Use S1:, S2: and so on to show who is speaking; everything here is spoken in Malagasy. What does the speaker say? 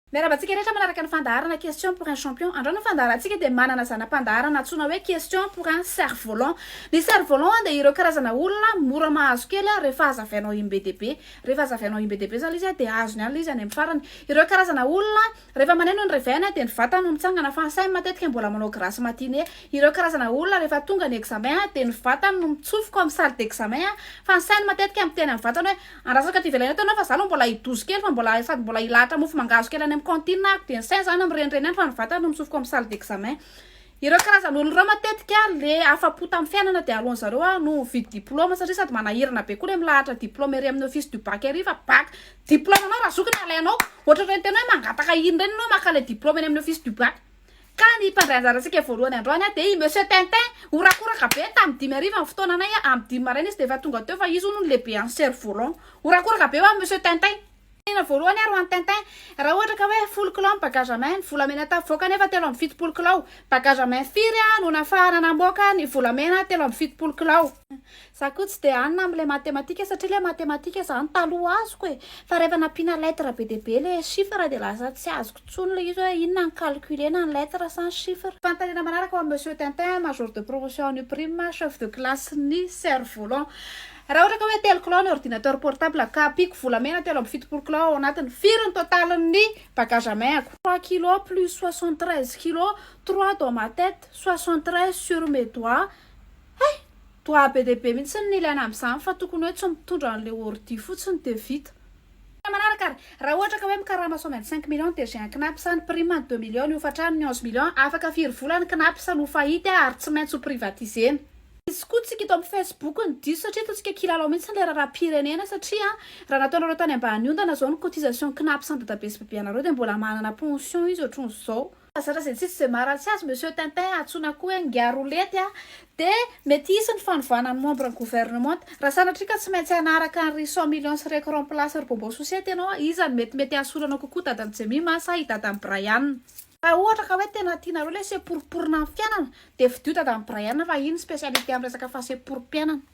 S1: Miarahaba antsika rehetra manaraka ny fandaharana Question pour un champion. Androany ny fandaharantsika dia manana zana-pandaharana antsoina hoe Question pour un cerf volant. Ny cerf volant dia ireo karazana olona mora mahazo kely rehefa hazavainao iny be dia be. Rehefa hazavainao iny be dia be zany izy dia azony any ilay izy any amin'ny farany. Ireo karazana olona rehefa maneno ny reveil dia ny vatany no mitsangana fa ny sainy matetika mbola manao grasse matinée. Ireo karazana olona rehefa tonga ny examen dia ny vatany no mitsofoka ao amin'ny salle d'examen fa ny sainy matetika miteny amin'ny vatany hoe Andrasako aty ivelany aty ianao fa za aloha mbola hidozy kely fa mbola sady mbola hilahatra mofo mangahazo kely any amin'ny cantine aho dia ny saina zany mirenireny any fa ny vatana no notsofiko amin'ny salle d'examen. Ireo karazan'olona ireo matetika le afa-po tamin'ny fiainana dia aleon'ny zareo a no mividy diploma satria sady manahirana be koa le milahatra diploma ery amin'ny office du bac ery fa bac diploma anao raha zoky no alainao. Ohatr'ireny tena hoe mangataka iny ireny ianao maka le diploma eny amin'ny office du bac. Ka ny mpandray anjarantsika voalohany androany dia i Monsieur Tintin. Horakoraka be tamin'ny dimy hariva ny fotoananay, amin'ny dimy maraina izy dia efa tonga teo fa izy hono no lehibean'ny cerf volant. Horakoraka be ho an'i Monsieur Tintin. Tena voalohany ary ho an'i Tintin. Raha ohatra ka hoe folo kilao ny bagage à main, ny volamena tavoaka anefa telo amby fitopolo kilao. Bagage à main firy no nafahana namoaka ny volamena telo amby fitopolo kilao? Za koa tsy dia any na amin'ilay matematika satria ilay matematika izany taloha azoko e! Fa rehefa nampiana lettre be dia be ilay chiffre dia lasa tsy azoko intsony ilay izy hoe inona ny calcule na ny lettre sa ny chiffre. Fanontaniana manaraka ho an'i Monsieur Tintin, Major de promotion en UPRIME, Chef de classe-n'ny Cerf volant. Raha ohatra ka hoe telo kilao ny ordinateur portable ka ampiako volamena telo amby fitopolo kilao ao anatiny, firy ny totalin'ny bagage à main-ako? Trois kilos plus soixante treize kilos, trois dans ma tête, soixante treize sur mes doigts. Hay! Toa be dia be mihitsy ny ilaina amin'izany fa tokony hoe tsy mitondra an'ilay ordi fotsiny dia vita. Tena manaraka ary raha ohatra ka hoe mikarama sao maintsy cinq millions dia j'ai un Cnaps sa ny prime ny deux millions ny hofantrano ny onze millions afaka firy vola ny Cnaps no fahity ary tsy maintsy ho privatisena. Izy koa tsika eto amin'ny Facebook no diso satria toa tsika kilalao mihitsy ilay raharaham-pirenena satria raha nataonareo tany ambany ondana izao ny cotisation Cnaps an-dadabe sy babeanareo dia mbola manana pension izy ohatran'izao. Aza razentsy tsy de maharatsy azy monsieur Tintin antsoina koa hoe ngiarolety a! de mety hisy ny fanovana ny membre ny gouvernementa raha sanatria ka tsy maintsy hanaraka an ry cent millions sy reko remplace ry bonbon sosety ianao a! iza no mety mety hahasolo anao kokoa dadan'i Jemima sa i dadan'i Brian? Raha ohatra ka hoe tena tianareo ilay seporiporiana amin'ny fiainana dia fidio dadan'i Brian fa iny ny specialité amin'ny resaka fahaseporim-piainana.